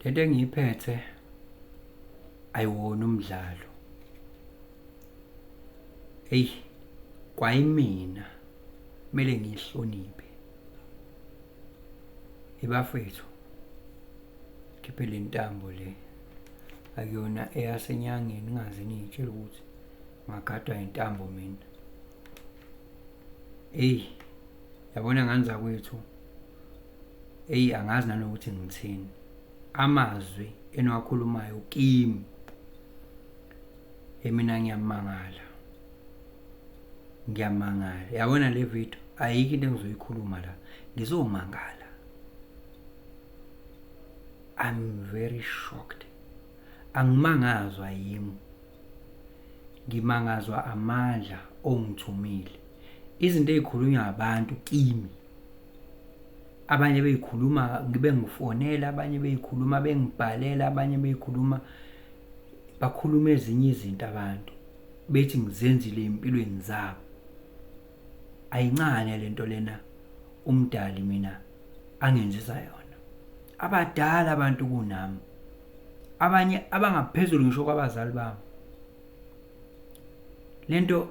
Le nto engiyiphethe ayiwona umdlalo. Eyi kwayimina kumele ngiyihloniphe. Ibafethu khiphe le ntambo le akuyona eyasenyangeni ingaze niyitshela ukuthi ngagadwa intambo mina. eyi yabona ngani zakwethu eyi angazi nanokuthi ngithini amazwi eniwakhulumayo kimi emina ngiyamangala ngiyamangala yabona le video ayikho into engizoyikhuluma la ngizomangala i'm very shocked angimangazwa yimi Ngimangazwa amandla ongithumile. Izinto ey'khulunywa abantu kimi abanye bey'khuluma ngibe ngifonela abanye bey'khuluma bengibhalela abanye bey'khuluma bakhuluma ezinye izinto abantu bethi ngizenzile ey'mpilweni zabo. ayincane lento lena umdali mina angenzisa yona abadala abantu kunami abanye abangaphezulu ngisho kwabazali bami lento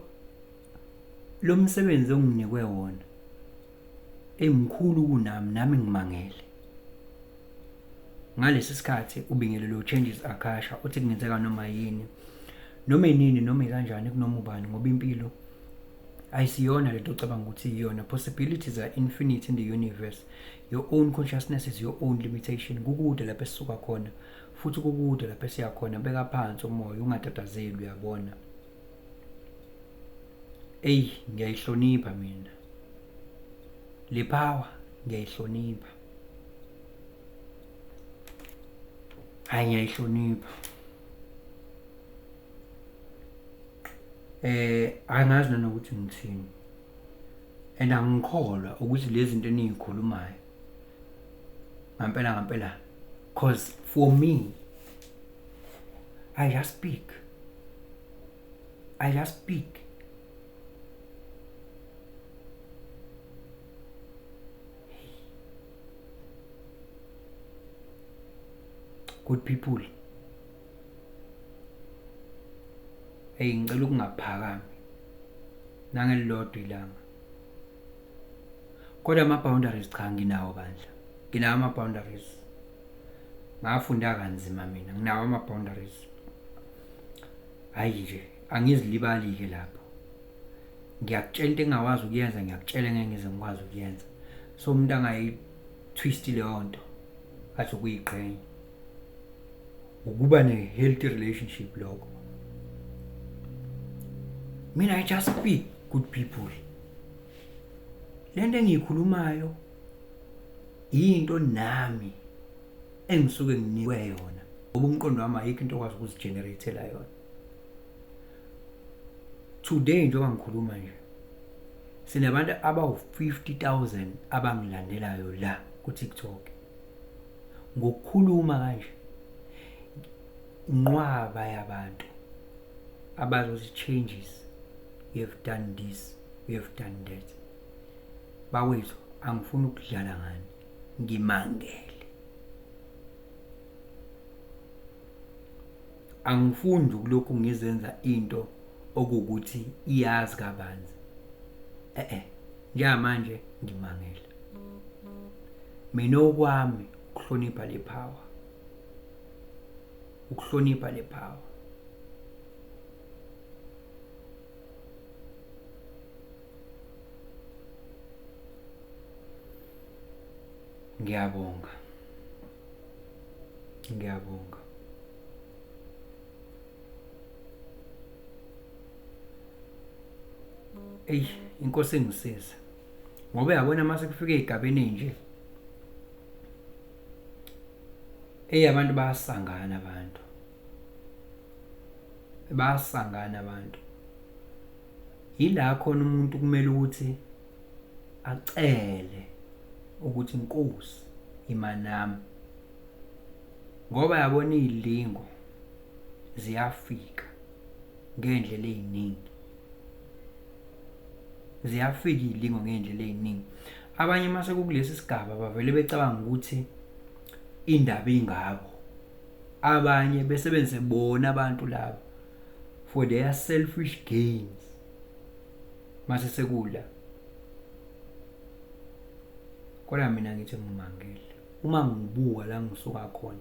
lo msebenzi onginikwe wona emkhulu kunami nami ngimangele ngalesi sikhathi ubingelelo changes akasha uthi kungenzeka noma yini noma inini noma ikanjani kunoma ubani ngoba impilo ayisiyona lento ocabanga ukuthi iyona possibilities are infinite in the universe your own consciousness is your own limitation kukude lapho esisuka khona futhi kukude lapho esiya khona beka phansi umoya ungatatazeli uyabona eyi ngiyayihlonipha mina le power ngiyayihlonipha hayi ngiyayihlonipha eh angazi nanokuthi ngithini and angikholwa ukuthi lezi zinto enizikhulumayo ngampela ngampela cause for me i just speak i just speak good people eyi ngicela ukungaphakami nangelilodwa ilanga kodwa ama-boundaries cha nginawo bandla nginawo ama-boundaries ngafunda kanzima mina nginawo ama-boundaries hhayi nje angizilibali-ke lapho ngiyakutshela into engingakwazi ukuyenza ngiyakutshela ngeke ngize ngikwazi ukuyenza so umuntu angayithwisti leyo nto athi ukuyiqhenya ukuba ne-healthy relationship lokho mina i just speak good people le nto engiyikhulumayo yinto nami engisuke nginikwe yona ngoba umqondo wami ayikho into okwazi ukuzigeneratela yona today njengoba ngikhuluma nje sinabantu abawu-50 000 abangilandelayo la ku-tiktok ngokukhuluma kanje nqwaba yabantu abazothi changes we have done this we have done that bawethu angifuni ukudlala ngani ngimangele Angifuni nje ukulokhu ngizenza into okuwukuthi iyazi kabanzi. E-e, njengamanje ngimangele. Mina okwami ukuhlonipha le power. Ukuhlonipha le power. Ngiyabonga. ngiyabonga eyi inkosi engisiza ngoba yabona uma sekufika ey'gabeni ey'nje eyi abantu bayasangana abantu bayasangana abantu Yila khona umuntu kumele ukuthi acele ukuthi inkosi imanami ngoba yabona izilingo ziyafika ngendlela eziningi ziyafika izilingo ngendlela eziningi abanye mase kukulesi sigaba bavele becabanga ukuthi indaba ingabo abanye besebenzise bona abantu labo for their selfish gains mase sekula kodwa mina ngithi ngimangele uma ngibuka la ngisuka khona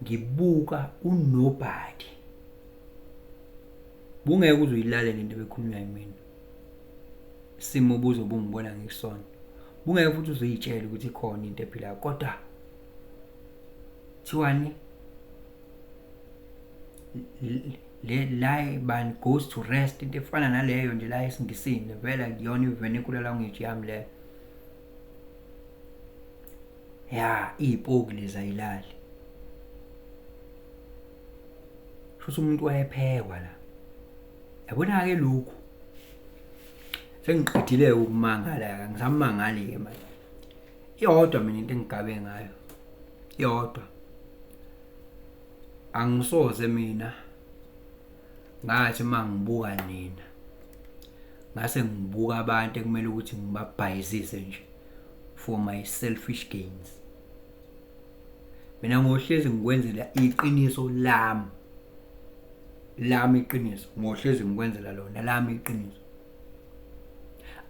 ngibuka unobody bungeke uze uyilalele into ebekhulunywa yimina simo buzo bungibona ngikusona bungeke futhi uzoyitshela ukuthi khona into ephila kodwa Kuthiwani? Le lie bani goes to rest into efana naleyo nje la esiNgisini vela kuyona i-vernacular language yami leyo. Ya iy'poki lezi ayilali. Shuthi umuntu wayephekwa la. Yabona-ke lokhu sengiqedile ukumangala ngisamangali-ke manje iyodwa mina into engigabe ngayo iyodwa angisoze mina ngathi uma ngibuka nina ngase ngibuka abantu ekumele ukuthi ngibabhayizise nje for my selfish gains mina ngohlezi ngikwenzela iqiniso lami lami iqiniso ngohlezi ngikwenzela lona lami iqiniso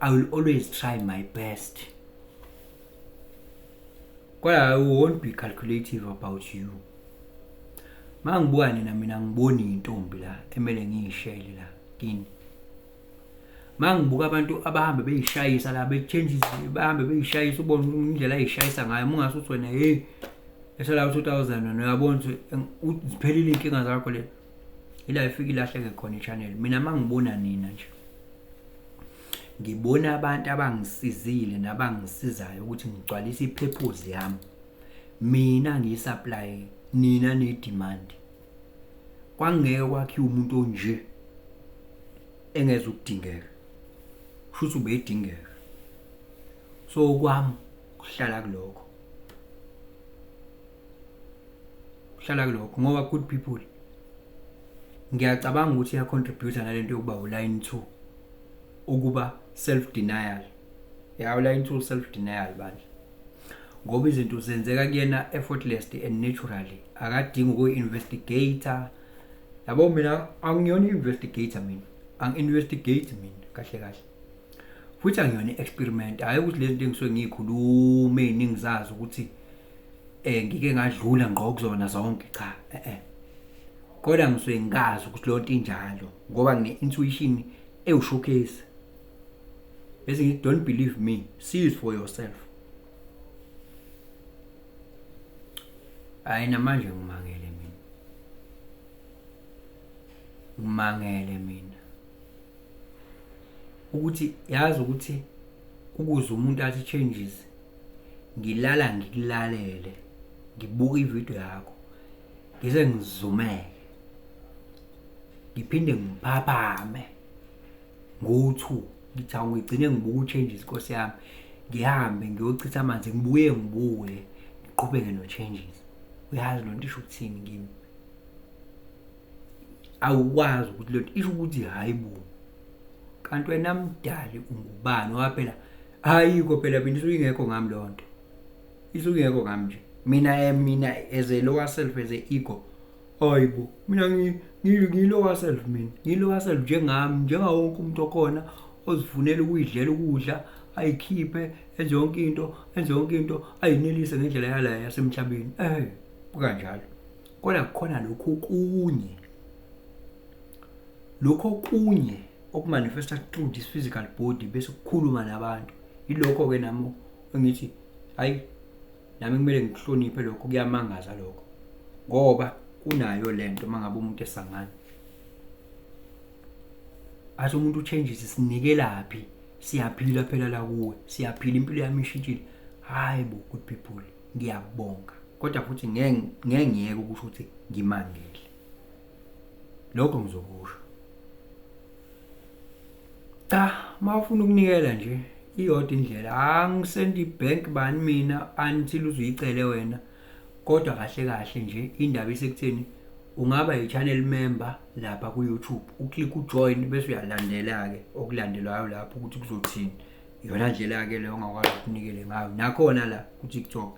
I will always try my best. But I won't be calculative about you. Uma ngibuka nina mina ngiboni intombi la emele ngiyishele la kini. Uma ngibuka abantu abahambe beyishayisa la bechange bahambe beyishayisa ubona indlela ayishayisa ngayo mungase uthi wena hey esala 2000 wena uyabona ukuthi uziphelile inkinga zakho le ila ifika ilahleke khona ichannel mina mangibona nina nje ngibona abantu abangisizile nabangisizayo ukuthi ngigcwalise ipurpose yami mina ngiyisupply nina nedemand kwangeke kwakhiwa umuntu onje engeza ukudingeka futhi ubedingeka so kwami kuhlala kuloko hlala kulokho ngoba good people ngiyacabanga ukuthi iyacontributa nalento yokuba uline 2 ukuba self denial ya uline 2 self denial bandla ngoba izinto zenzeka kuyena effortlessly and naturally akadingi ukuyi-investigator yabo mina angiyona i-investigator mina angi-investigate mina kahle kahle futhi angiyona i-experiment hhayi ukuthi lezi nto engisuke ngiyikhulume ningizazi ukuthi eh ngike ngadlula ngqo kuzona zonke cha eh eh kodwa ngisuke ngikazi ukuthi lonto injalo ngoba ngine intuition ewushowcase bese ngithi don't believe me see it for yourself hayi namanje ngimangele mina ngimangele mina ukuthi yazi ukuthi ukuze umuntu athi changes ngilala ngikulalele ngibuka ividiyo yakho ngize ngizumeke ngiphinde ngiphaphame ngo-two ngithi awungigcine ngibuka u-changes inkosi yami ngihambe ngiyochitha amanzi ngibuye ngibuye ngiqhubeke no-changes uyazi loo nto isho ukuthini kimi awukwazi ukuthi lento isho ukuthi hayi bo kanti wena mdali ungubani ngoba phela ayikho phela mina isuke ingekho ngami leyo nto isuke ingekho ngami nje mina eh, mina as a lower self as a ego hayi bo mina ngilower self mina ngilower self njengami njengawo wonke umuntu okhona ozifunela ukuyidlela ukudla ayikhiphe enze yonke into enze yonke into ayinelise ngendlela yala yasemhlabeni eh kukanjalo Kodwa kukhona lokhu okunye, lokhu okunye okumanifesta through this physical body bese kukhuluma nabantu. Yilokho-ke nami engithi hhayi nami kumele ngikuhloniphe lokho kuyamangaza lokho ngoba kunayo le nto uma ngabe umuntu esangana athi umuntu uchanges sinikelaphi siyaphila phela la kuwe siyaphila impilo yami ishintshile hayi bo good people ngiyabonga kodwa futhi ngeke ngiyeke ukusho ukuthi ngimangele lokho ngizokusho cha mawufuna ukunikela nje iyodwa indlela angisendi bank bani mina until uzuyicele wena kodwa kahle kahle nje indaba isekutheni ungaba yi-channel member lapha ku-youtube uclick ujoin bese uyalandela-ke okulandelwayo lapho ukuthi kuzothini iyona ndlela-ke leyo ongakwazi ukunikele ngayo nakhona la ku-tiktok